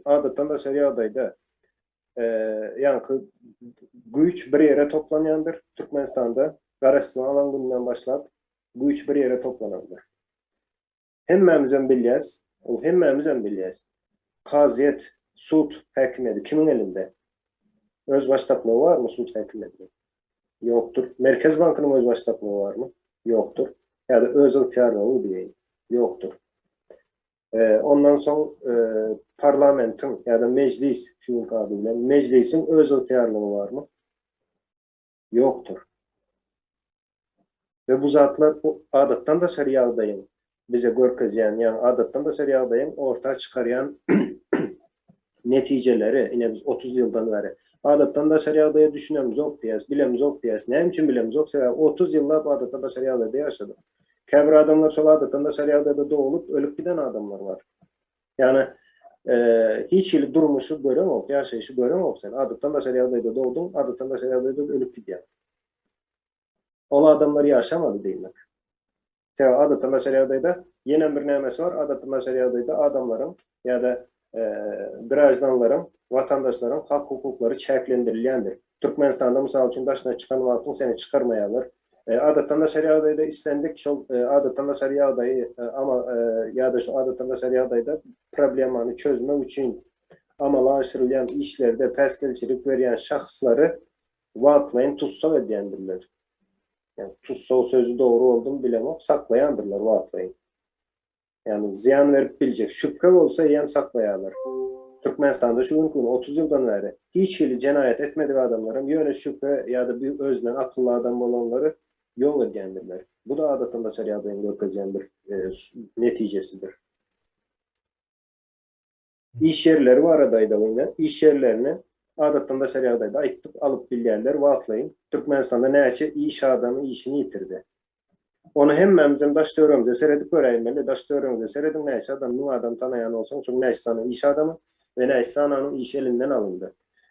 Adatdan daşary ýagdaýda ýaňky güýç bir ýere toplanýandyr. Türkmenistanda garaşsyz alan günden başlap güýç bir ýere toplanandyr. Hemmämizem bilýäs, ol hemmämizem bilýäs. Kazyýet, sud häkimiýeti kimiň elinde? Özbaşdaklygy barmy sud häkimiýetiniň? Ýokdur. Merkez bankynyň özbaşdaklygy barmy? Ýokdur. Ýa-da özygtyýarlygy diýeýin. Ýokdur. Ondan soň parlamentiň ýa-da mejlis, şu günki ady bilen, mejlisiň öz ygtyýarlygy barmy? Ýokdur. We bu zatlar adatdan daşary ýagdaýyň bize görkezýän, ýagny adatdan daşary ýagdaýyň orta çykarýan netijeleri, ine biz otuz ýyldan bäri adatdan daşary ýagdaýa düşünemizok diýýäs, bilemizok diýýäs. Näme üçin bilemizok? Sebäbi otuz ýyllap adatdan daşary ýagdaýda ýaşadyk. Käbir adamlar şol adatdan daşary ýagdaýda doglup, ölüp giden adamlar bar. Ýagny hiç hili durmuşy göreňok, ýaşaýşy göreňok sen. Adatdan daşary ýagdaýda dogduň, adatdan daşary ýagdaýda ölüp gidýäň. Ol adamlar ýaşamady diýmek. Tä adatda naçar ýagdaýda ýenem bir nämesi bar, adatda naçar ýagdaýda adamlaryň ýa-da graždanlaryň, watandaşlaryň hak-hukuklary çäklendirilýändir. Türkmenistanda mysal üçin daşyna çykan wagtyň seni çykarmaýarlar. Adatda naçar ýagdaýda islendik şol adatda naçar ýagdaýy amal ýa-da şu adatda naçar ýagdaýda problemany çözmek üçin amala aşyrylýan işlerde päsgelçilik berýän şahslary wagtlaýyn tussag edýändirler. Ýani tussag sözi dogry boldymy bilemok saklaýandyrlar wagtlaýyn. Ýani zyýan berip biljek şübhe bolsa eýýäm saklaýarlar. Türkmenistanda şu günki gün otuz ýyldan bäri hiç hili jenaýat etmedik adamlaram ýöne şübhe ýa-da bir özünden akylly adam bolanlary ýok edýändirler. Bu-da adatdan daşary ýagdaýyň görkezýän bir netijesidir. Iş ýerleri barada aýdalyň indi. Iş ýerlerini adatdan daşary ýagdaýda aýtdyk, alyp bilýärler wagtlaýyn. Türkmenistanda näçe iş adamy işini ýitirdi? Ony hemmämizem daş-töweregimize seredip göräýmeli. Daş-töweregiňize serediň, näçe adam, müň adam tanaýan bolsaň, şonuň näçe sany iş adamy we näçe sananyň işi elinden alyndy?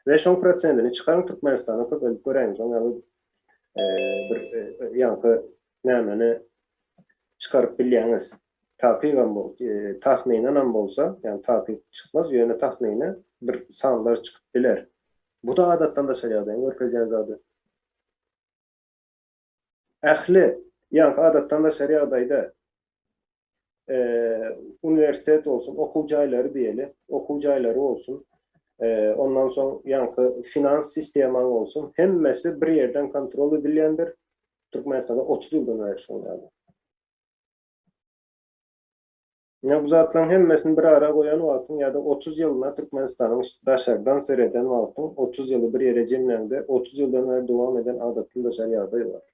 We şoň prosentini çykaryň, Türkmenistana köpeltip göräýiň, şoň ýaly bir ýaňky nämeni çykaryp bilýäňiz. Takygam bol, tahminanam bolsa, ýagny takyk çykmaz, ýöne tahmini bir sanlar çykyp biler. Bu-da adatdan daşary ýagdaýyň görkezýän zady. Ähli, ýagny adatdan daşary ýagdaýda uniwersitet bolsun, okuw jaýlary diýeli, okuw jaýlary bolsun, ondan soň ýaňky finans sistemaň bolsun, hemmesi bir ýerden kontrol edilýändir. Türkmenistanda otuz ýyldan bäri şoňa ýaly. Ýa bu zatlaryň hemmesini bir ara goýan wagtyň ýa-da otuz ýylyna Türkmenistanyň daşardan sereden wagtyň, otuz ýyly bir ýere jemläňde, otuz ýyldan bäri dowam eden adatdan daşary ýagdaý bar.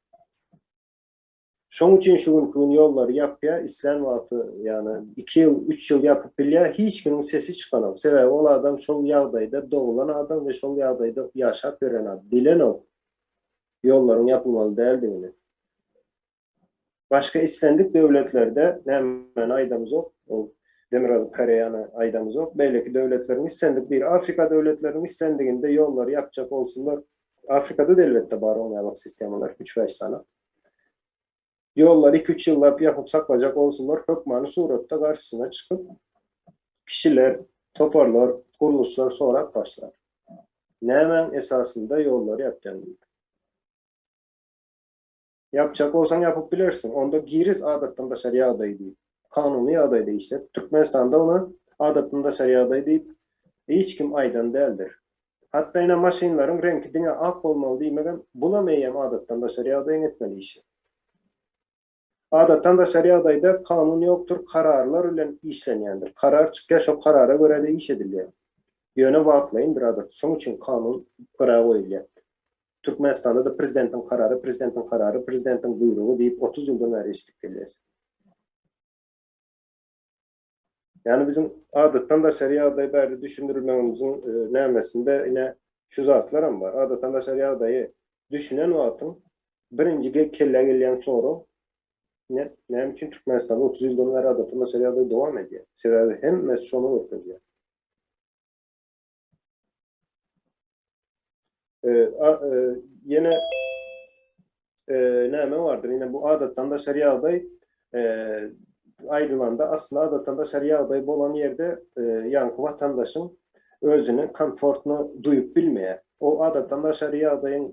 Şoň üçin şu günki gün ýollary ýapýar, islän wagty, ýagny iki ýyl, üç ýyl ýapyp bilýär, hiç kimiň sesi çykanok. Sebäbi ol adam şol ýagdaýda doglan adam we şol ýagdaýda ýaşap ýören adam, bilenok ýollaryň ýapylmaly däldigini. Başga islendik döwletlerde nämäni aýdamzok, ol Demirgazyk Koreýany aýdamzok, beýleki döwletleriň islendik bir Afrika döwletleriniň islendiginde ýollary ýapjak bolsunlar, Afrikada-da elbetde bar oň ýaly sistemalar, üç-bäş sany. Ýollary iki-üç ýyllap ýapyp saklajak bolsunlar, hökmany suratda garşysyna çykyp, kişiler, toparlar, gurluşlar sorap başlar. Nämäň esasynda ýollary ýapýaň diýip. Ýapjak bolsaň ýapyp bilersiň, onda giris adatdan daşary ýagdaý diýip, kanuny ýagdaýda işlet. Türkmenistanda ony adatdan daşary ýagdaý diýip hiç kim aýdan däldir. Hatda ine maşynlaryň reňki diňe ak bolmaly diýmegem, bulam eýýäm adatdan daşary ýagdaýyň etmeli işi. Adatdan daşary ýagdaýda kanun ýokdur, kararlar bilen işlenýändir. Karar çykýar, şo karara görä-de iş edilýär. Ýöne wagtlaýyndyr adaty, şonuň üçin kanun gyra goýulýar. Türkmenistanda-da prezidentiň karary, prezidentiň karary, prezidentiň buýrugy diýip otuz ýyldan bäri eşidip gelýäs. Ýani biziň adatdan daşary ýagdaý bärde düşündirilmegimiziň nämesinde ine şu zatlaram bar. Adatdan daşary ýagdaýy düşünen wagtyň birinji kellä gelýän sorag ine näme üçin Türkmenistanda otuz ýyldan bäri adatdan daşary ýagdaý dowam edýär? Sebäbi hemmesi şony görkezýär. Ýene näme bardyr? Ýene bu adatdan daşary ýagdaý aýdylanda asly adatdan daşary ýagdaý bolan ýerde ýaňky watandaşyň özüni komfortno duýup bilmeýär. O adatdan daşary ýagdaýyň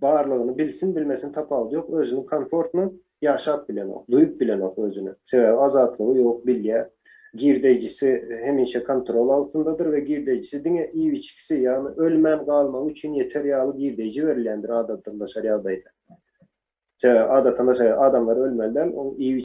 barlygyny bilsin-bilmesin tapawudy ýok, özüni komfortno Ýaşap bilenok, duýup bilenok özüni. Sebäbi azatlygy ýok, bilýär. Girdeýjisi hemişe kontrol altyndadyr we girdeýjisi diňe iýip-içgisi, ýagny ölmän galmagy üçin ýeter ýaly girdeýji berilýändir adatdandaşary ýagdaýda. Sebäbi adatdandaşary adamlar ölmeli däl, onuň iýip-içgisi.